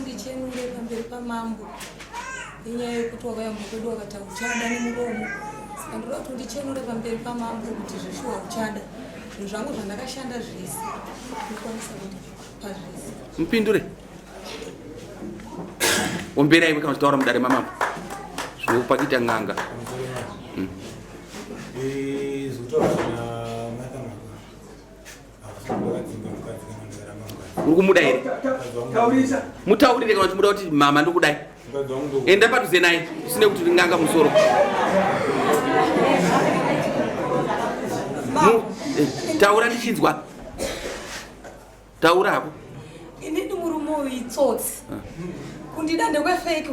ndichenure pamberi pamambo nenyaya yekuti wakayamba kwedu wakati hauchada nemuromo saka ndoda kuti ndichenure pamberi pamambo kuti zveshuwa uchada zvinhu zvangu zvandakashanda zvese ndikwanisa kuti pazvese mupindure ombera iwe kana uchitaura mudare mamambo zvinokupakita n'anga uri kumuda here mutaurire kana timuda kuti mama ndikudai enda padhuze naye usine kuti ringanga musoro eh, taura ndichinzwa taura hako ini ndi murume uyu itsotsi ah. kundida ndekwefeki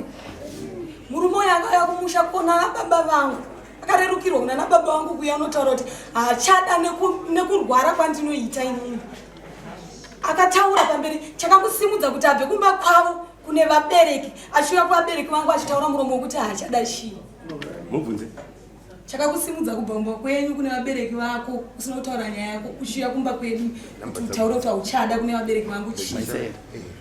murume uyu akauya kumusha kuona baba vangu akarerukirwa kuna nababa wangu kuya unotaura kuti hachada nekurwara kwandinoita inini akataura pamberi chakakusimudza kuti abve kumba kwavo kune vabereki achiuya kuvabereki vangu achitaura muromo wekuti haachada chii mubvunze chakakusimudza kubva kumba kwenyu kune vabereki vako usina kutaura nyaya yako uchiuya kumba kwedu kuti utaure kuti hauchada kune vabereki vangu chii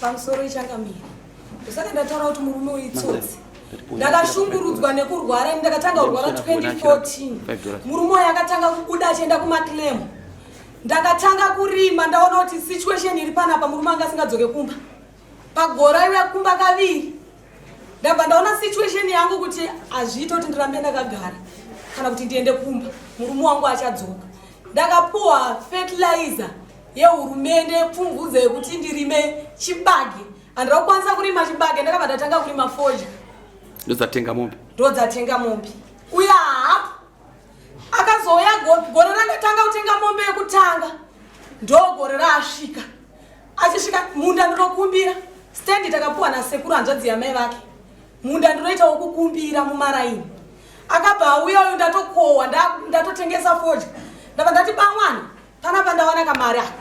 pamusoro ichangamira ndosaka ndataura kuti murume uyu itsotsi ndakashungurudzwa nekurwara ini ndakatanga kurwara 2014 murume uyu akatanga kubuda achienda kumaclaim ndakatanga kurima ndaona kuti situation iri panapa murume anga asingadzoke kumba pagora iwe kumba kaviri ndabva ndaona situation yangu kuti hazviite kuti ndirambe ndakagara kana kuti ndiende kumba murume wangu achadzoka ndakapuwa fertilizer yehurumende pfumvudza yekuti ndirime chibage handira kukwanisa kurima chibage ndakabva ndatanga kurima foja ndodzatenga mombe ndodzatenga mombe uya hapo akazouya gore randatanga kutenga mombe yekutanga ndogore raasvika achisvika munda ndinokumbira stendi takapuwa nasekuru hanzvadzi yamai vake munda ndinoita wokukumbira mumaraini akabva auya uyu ndatokohwa ndatotengesa fodya ndabva ndati bamwana panapa ndawana kamari aka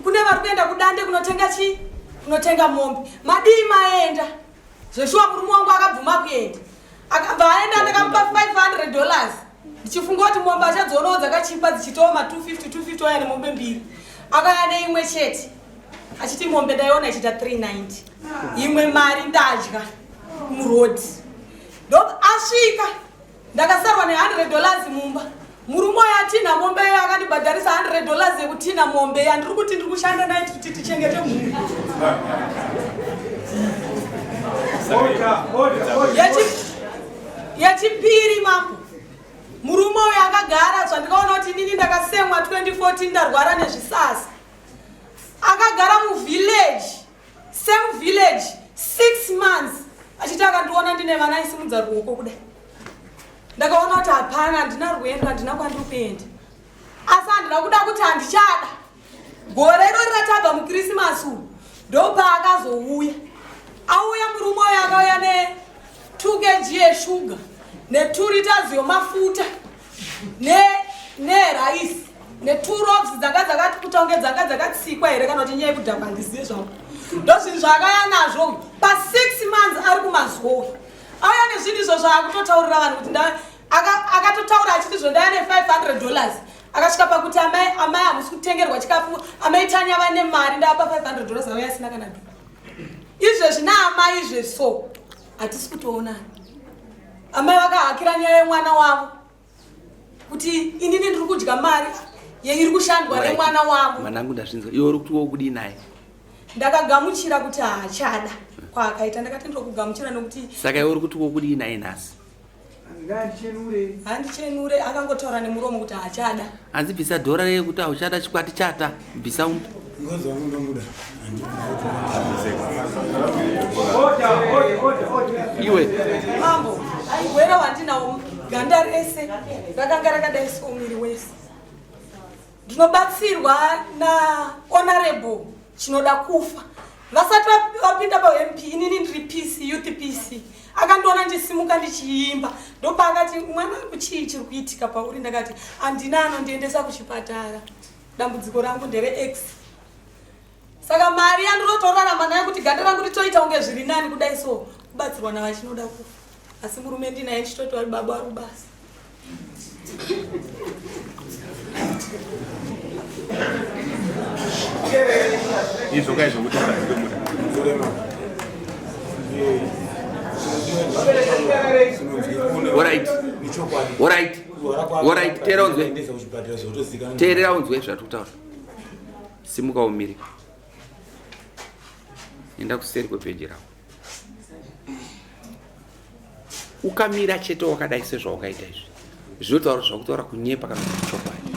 kune vari kuenda kudande kunotenga chii kunotenga mombe madii maenda zveshuwa murume wangu akabvuma kuenda akabva aenda ndakamupa 500 dollars ndichifunga kuti mombe achadzionawo dzakachipa dzichitawo ma 250 250 waya nemombe mbiri akaya neimwe chete achiti mombe ndaiona ichiita 390 imwe mari ndadya murodi ndo asvika ndakasarwa ne 100 dollars mumba murume uyo atina mombe iyo akandibhadharisa 100 dollars yekutina mombe yandiri kuti ndiri kushanda naye kuti tichengete mhuri yechipiri mambo murume uyo akagara zvandikaona kuti inini ndakasemwa 2014 ndarwara nezvisasa akagara muvillage Same village 6 months achiti akandiona ndine vana aisimudza ruoko kudai. Ndakaona kuti hapana handina rwendo handina kwandiri kuenda. Asi handina kuda kuti handichada. Gore irori ratabva muKrisimasi uyu ndopaakazouya. Auya murume uyo akauya ne 2 kg yeshuga ne 2 liters yomafuta. ne ne rice ne two rocks dzanga dzakati kutonge dzanga dzakatsikwa here kana kuti nyaya yekudhakwa ndiziye zvangu ndozvinhu zvaakaya nazvo pa six months ari kumazowe auya nezvinhu izvo zvaakutotaurira vanhu kuti akatotaura aka achiti zvo ndaya ne 500 dollars akasvika pakuti amai amai hamusi kutengerwa chikafu amai tanya vane mari ndavapa 500 dollars auya asina kana izvezvi naamai izvezvi so hatisi kutoonana amai vakahakira nyaya yemwana wavo kuti inini ndiri kudya mari yeiri kushandwa nemwana wavo mwanangu ndazvinzwa iwe uri kuti wokudii naye ndakagamuchira kuti haachada kwaakaita ndakati ndiri kugamuchira nokuti saka iwe uri kuti wokudii naye nhasi handichenure akangotaura nemuromo kuti haachada hanzi bvisa dhora reye kuti hauchada chikwati chata bvisa umbi iwe mambo aigwera wandinawo ganda rese rakanga rakadai so miri wese ndinobatsirwa nahonorable chinoda kufa vasati vapinda pamp inini ndiri pc youth pc akandiona ndisimuka ndichiimba ndopaakati mwana wangu chii chiri kuitika pauri ndakati handina anondiendesa kuchipatara dambudziko rangu ndere x saka mari yandinotorarama nayo kuti ganda rangu ritoita kunge zviri nani kudai so kubatsirwa navachinoda kufa asi murume ndinaye ndichitoti vari baba vari kubasa izvo kai zvokutaura teerera unzwe zvatokutaura Simuka umire. Enda kuseri kwebheji rako. Ukamira chete wakadai sezvawakaita izvi. Zvinotaura zvakutaura kunyepa kana kuti chokwadi.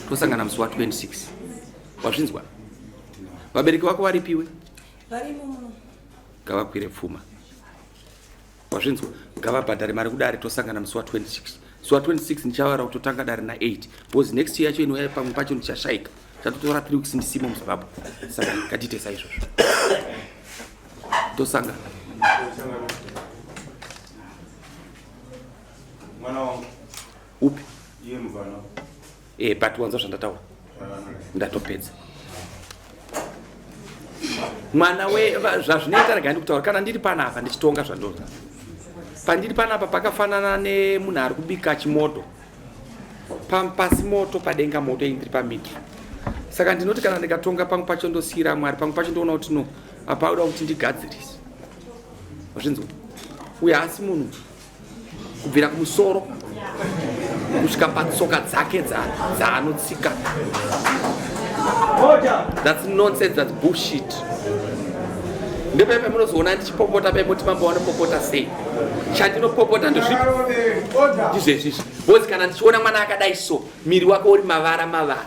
Tosangana musi wa 26. Wazvinzwa? Vabereki vako varipiwe? Varimo muno. Ngavakwire pfuma. wazvinzwa ngavabhadhare mari kudare tosangana musi wa 26 musi wa 26 ndichavaura kuti totanga dare na 8 because next year yacho inouya pamwe pacho ndichashaika chatotora 3 weeks ndisimo muzimbabwe saka ngatiite saizvozvo tosangana mwana wangu upi iye mvana Eh, but wanzwa zvandataura ndatopedza mwana we zvazvinoita rega ndikutaura kana ndiri panapa ndichitonga zvandoda pandiri panapa pakafanana nemunhu ari kubika chimoto pasi moto padenga moto iyi ndiri pamidri saka ndinoti kana ndikatonga pamwe pacho ndosiyira mwari pamwe pacho ndoona kuti no apaoda kuti ndigadzirise zvinzwa uye haasi munhu kubvira kumusoro kusvika patsoka dzake dzaanotsika thats nonsense thats bullshit ndepe pamunozoona ndichipopota pemoti mambo vanopopota sei chandinopopota ndozvipo ndizvezvizvi bhozi kana ndichiona mwana akadai so miri wake uri mavara mavara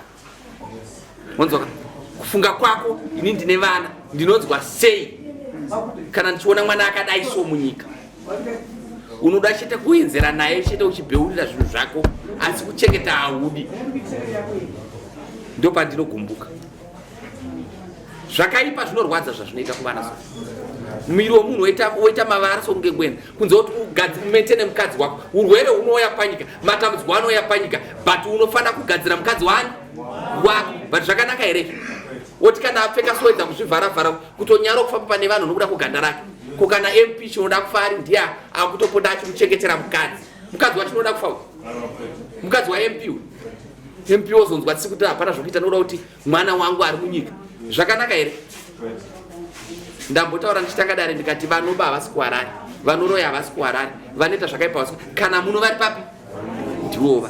Wonzwa kufunga kwako ini ndine vana ndinonzwa sei kana ndichiona mwana akadai so munyika unoda chete kuenzera naye chete uchibheurira zvinhu zvako asi kuchengeta haudi ndopandinogumbuka zvakaipa zvinorwadza zvazvinoita kuvana so muviri wemunhu woita mavara sokunge kwena kunze kuti ugadzi umaintaine mukadzi wako urwere unouya panyika matambudziko anouya panyika but unofanira kugadzira mukadzi wani wako but zvakanaka here woti kana apfeka soedza kuzvivharavhara kutonyara kufamba pane vanhu nokuda kuganda rake ko kana mp chinoda kufa ari ndiye akutopota achimuchengetera mukadzi mukadzi wachinoda kufa mukadzi wamp mp wozonzwa tisi kuti hapana zvokuita nokuda kuti mwana wangu ari munyika zvakanaka here ndambotaura ndichitanga dare ndikati vanoba havasi kuharare vanoroya havasi kuharare vanoita zvakaipa vasi kana muno vari papi ndiwova